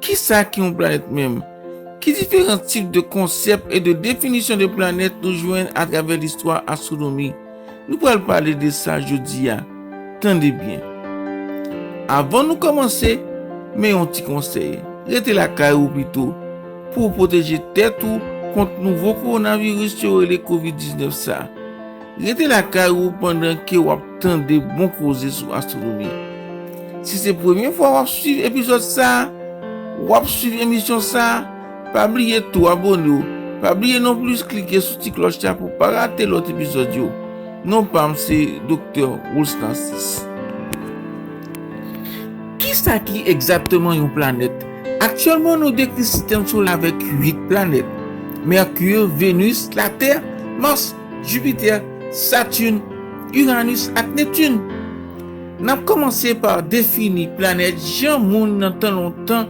Ki sa ki yon planèt menm? Ki diferan tip de konsèp e de definisyon de planèt nou jwenn atravè listwa astwonomi? Nou pral pale de sa jodi a. Tande byen. Avan nou kòmanse, men yon ti konsèy. Rete lakay ou pito pou ou pwoteje tèt ou kont nouvo kowonaviris yo rele covid 19 sa. Rete lakay ou pandan ke w ap tande bon koze sou astwonomi. Si se premye fwa w ap swiv epizòd sa, w ap swiv emisyon sa, pa bliye tou abone w, pa bliye non plis klike sou ti klòch la pou w pa rate lòt epizòd yo. Non pa m se Doktè Roulce Narcisse. Kisa ki egzakteman yon planèt? Aktyèlman nou dekri sistèm solè avèk 8 planèt, Mercure, Venus, Latè, Mars, Jupiter, Saturne, Uranus ak Neptune. Nap komanse pa defini planèt jan moun nan tan lontan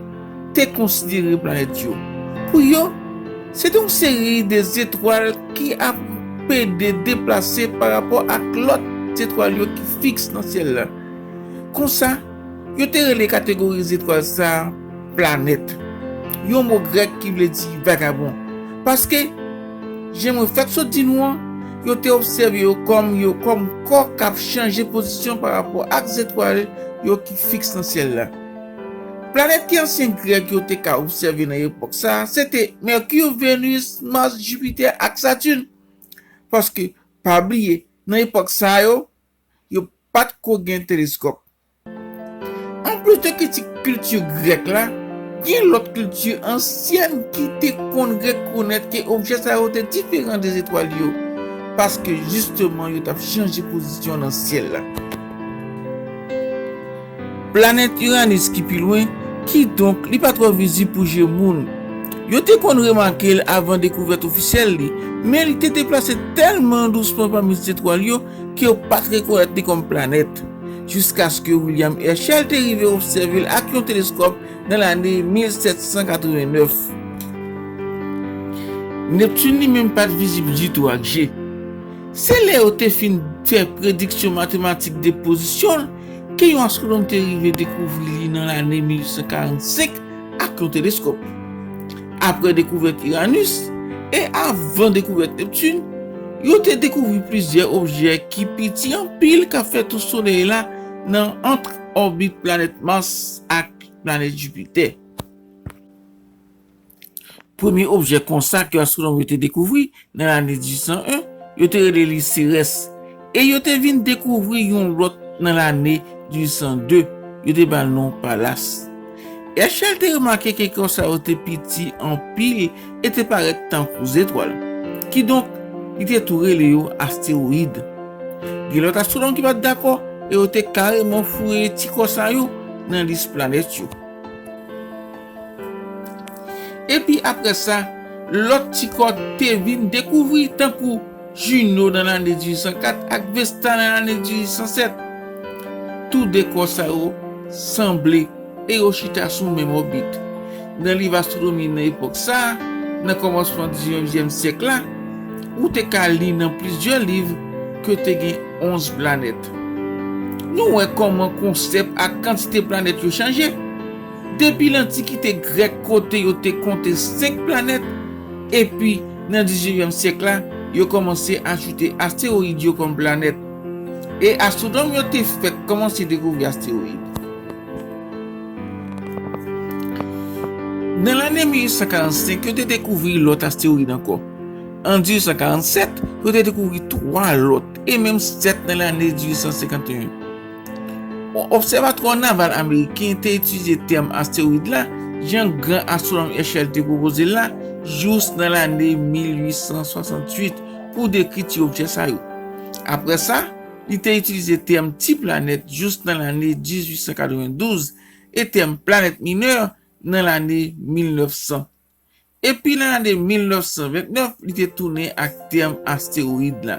te konsidere planèt yo. Pou yo, se te yon seri de zetwal ki ap pede deplase pa rapò ak lòt zetwal yo ki fiks nan syèl la. Konsa, yo te rele kategori zetwal sa a. Planèt. Yon mo grèk ki vle di vagabon. Paske, jan mwen fèk sot di nou an, yo te obsève yo kòm yo kòm kò k ap chanje pozisyon parapò ak zetwal yo ki fiks nan syèl la. Planèt ke ansyen Grèk yo te ka obsève nan epòk sa a se te Mèki, Venus, Mas, Jipitè ak Satin. Paske, pa bliye, nan epòk sa yo, yo pa t ko gen teleskòp. Anplis de kritik kilti grèk la, gen lòt kilti ansyèn ki te konn rekonèt ke objè sa yo te diferan de zetwal yo, paske jisteman yo t ap chanje pozisyon nan syèl la. Planèt Iranis ki pi lwen, kidonk li pa twò vizib pou je moun. Yo te konn remake l avan dekouvèt ofisyèl li, men li te deplase tèlman dousman pami zetwal yo ke yo pa t rekonèt li kòm planèt. jiskaske William Herschel te rive obsève l ak yon teleskòp nan lane 1789. Neptune li menm pa t vizib ditou ak je. Se lè yo te fin fè prediksyon matematik de pozisyon l ke yon astwonòm te rive dekouvri li nan lane 1845 ak yon teleskòp. Apre dekouvèt Iranus e avan dekouvèt Neptun, yo te dekouvri plizyè objè ki piti anpil k ap fè tou Solèy la nan ant òbit planèt Mars ak planèt Jupiter. Premye objè konsa ke astwonòm yo te dekouvri Nan lane 1801, yo te rele li Serès, e yo te vin dekouvri yon lòt nan lane 1802, yo te ba l non Palas. Èchèl te remake ke kò sa yo te piti anpil e te parèt tankou zetwal. Kidonk, li te tou rele yo astewoyid. Gen lòt astwonòm ki pa t dakò e yo te kareman foure ti kò sa yo nan lis planèt yo. Epi apre sa, lòt ti kò te vin dekouvri tankou Junot nan lane 1804 ak Vesta nan lane 1807. Tou de kò sa yo sanble e yo chita sou menm òbit. Nan liv astwonomi nan epòk sa a, nan kòmansman diznevyèm syèk la, ou te ka li nan plizyè liv ke te gen onz planèt. Nou wè kòman konsèp ak kantite planèt yo chanje. Depi lantikite Grèk kote yo te konte senk planèt, epi nan diznevyèm syèk la, yo kòmanse ajoute astewoyid yo kòm planèt. E astwonòm yo te fèk kòmanse dekouvri astewoyid. Nan lane 1845, yo te dekouvri lòt astewoyid ankò. An 1847, yo te dekouvri twa lòt, e menm sèt nan lane 1851. Yon obsèvatwa naval ameriken te itilize tèm astewoid la, jan gran astwonòm Herschel te pwopoze l la, jous nan lane 1868 pou dekri ti objè sa yo. Apre sa, li te itilize tèm ti planèt jous nan lane 1892 e tèm planèt minè nan lane 1900. epi nan ane 1929 li te tounen ak tèm astewoyid la.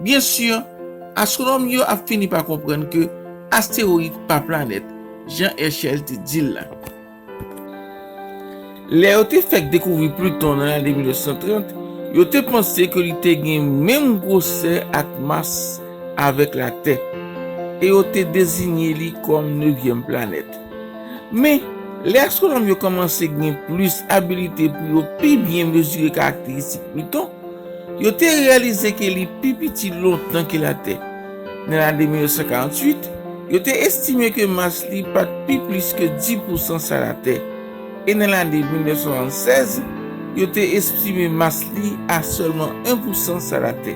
Byen si, astwonòm yo ap fini pa konprann ke astewoyid pa planèt, jan Herschel te di l la. Lè yo te fèk dekouvri Pluton nan lane 1930, yo te panse ke li te gen menm gwosè ak mas avèk Latè, e yo te dezinye li kòm nevyèm planèt. Men, lè astwonòm yo kòmanse gen plis abilite pou yo pi byen mezire karakteristik Pliton, yo te reyalize ke li pi piti lontan ke Latè. Nan lane 1948, yo te estime ke mas li pa t pi plis ke di pousan sa Latè, e nan lane 1976, yo te estime mas li a sèlman en pousan sa Latè.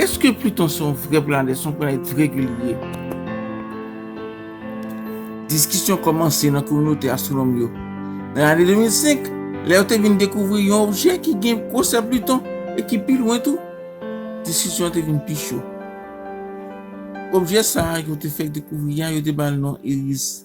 Eske Pluton se yon vrè planèt, se yon planèt regilye? Diskisyon kòmanse nan kominote astwonòm yo. Nan lane 2005, lè yo te vin dekouvri yon objè ki gen gwosè Pluton e ki pi lwen tou, diskisyon an te vin pi cho. Objè sa a yo te fèk dekouvri a, yo te ba l non Eris.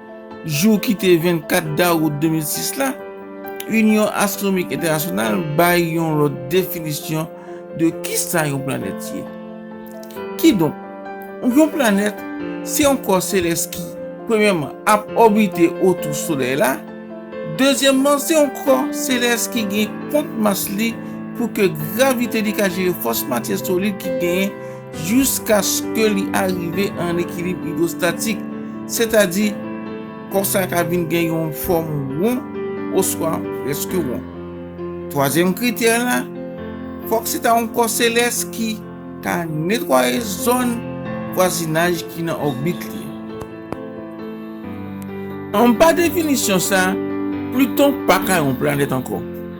Jou ki te 24 dawout 2006 la, Inyon Astwonmik Entènasyonal bay yon lòt definisyon de kisa yon planèt ye. Kidonk, yon planèt se yon kò selès ki, premyèman, ap òbite otou Solèy la, dezyèmman, se yon kò selès ki gen kont mas li pou ke gravite li ka jere fòs matyè solid ki genyen jiskaske li arive an ekilib idwostatik, sètadi kò sa ka vin gen yon fòm won oswa prèske won. Twazyèm kritè la, fòk se ta yon kò selès ki ka netwaye zòn vwazinaj ki nan òbit li. Anba definisyon sa, Pluton pa ka yon planèt ankò.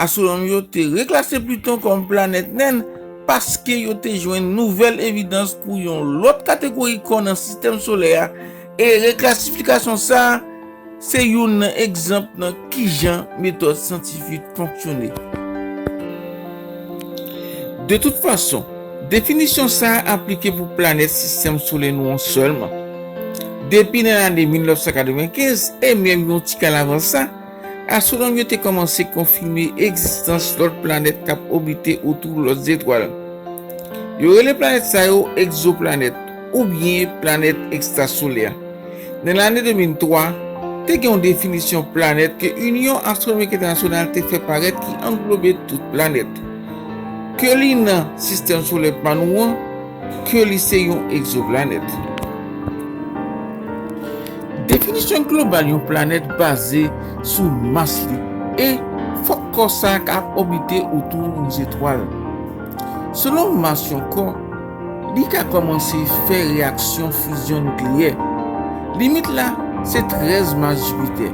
Astwonòm yo te reklase Pluton kòm planèt nen paske yo te jwenn nouvèl evidans pou yon lòt kategori kò nan Sistèm Solè a, e reklasifikasyon sa a se youn nan egzanp nan kijan metòd syantifik fonksyone. De tout fason, definisyon sa a aplike pou planèt Sistèm Solè nou an sèlman. Depi nan lane 1995, e menm yon ti kal avan sa, Astwonòm yo te kòmanse konfime egzistans lòt planèt k ap òbite otou lòt zetwal. Yo rele planèt sa yo egzoplanèt oubyen planèt ekstrasolè. Nan lane 2003, te gen yon definisyon planèt ke Inyon Astwonomik Entènasyonal te fè parèt ki anglobe tout planèt ke li nan sistèm solè pa nou an, ke li se yon egzoplanèt. Definisyon global yon planèt baze sou mas li e fòk kò sa a ka ap òbite otou yon zetwal. Selon mas yon kò, li ka kòmanse fè reyaksyon fizyon nikleyè. Limit la se 13 mas Jipitè.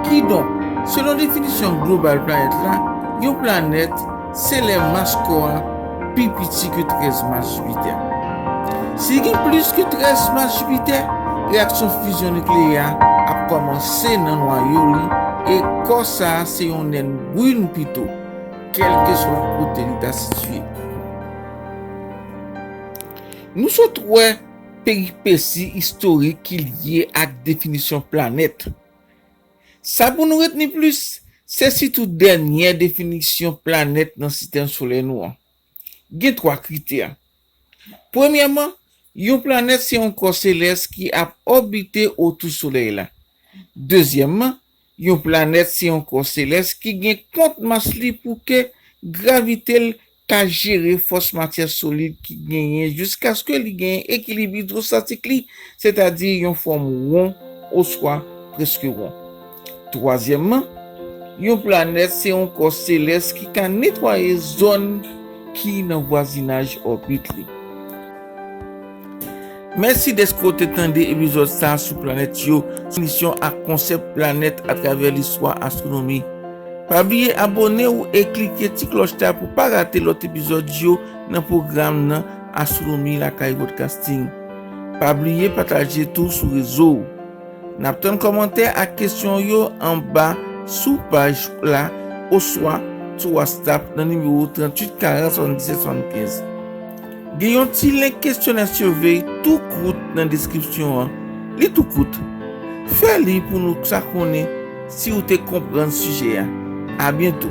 Kidonk, selon definisyon global planèt la, yon planèt. Se lè mas kò a pi piti ke 13 mas Jipitè. Si li gen plis ke 13 mas Jipitè, reyaksyon fizyon nikleyè a ap kòmanse nan nwayo li e kò sa a se yon nèn brin pito, kèlkeswa kote li ta sitye. Nou sot wè peripesi istorik ki lye ak definisyon planèt. Sa pou nou retni plis, se sitou dènyè definisyon planèt nan Sistèm Solè nou an. Gen twa kritè. Premyèman, yon planèt se yon kò selès ki ap òbite otou Solèy la. Dezyèmman, yon planèt se yon kò selès ki gen kont mas li pou ke gravite l ka jere fòs matyè solid ki genyen jiskaske li genyen ekilib idwostatik li, sètadi yon fòm won oswa prèske won. Twazyèmman, yon planèt se yon kò selès ki ka netwaye zòn ki nan vwazinaj òbit li. Mèsi dèske w te tande epizòd sa a sou planèt yo, sou misyon ak konsèp planèt atravè listwa astwonomi. Pa bliye abone w e klike ti klòch la pou w pa rate lòt epizòd yo nan pwogram nan Astwonomi Lakay Podcasting. Pa bliye pataje tou sou rezo w. N ap tann kòmantè ak kesyon w yo anba sou paj la oswa sou WhatsApp nan nimewo 38 40 77 75. Gen yon ti lenk kesyonè survey tou kout nan deskripsyon an. Li tou kout. Fè li pou nou ka konnen si ou te konprann sijè a. A byento!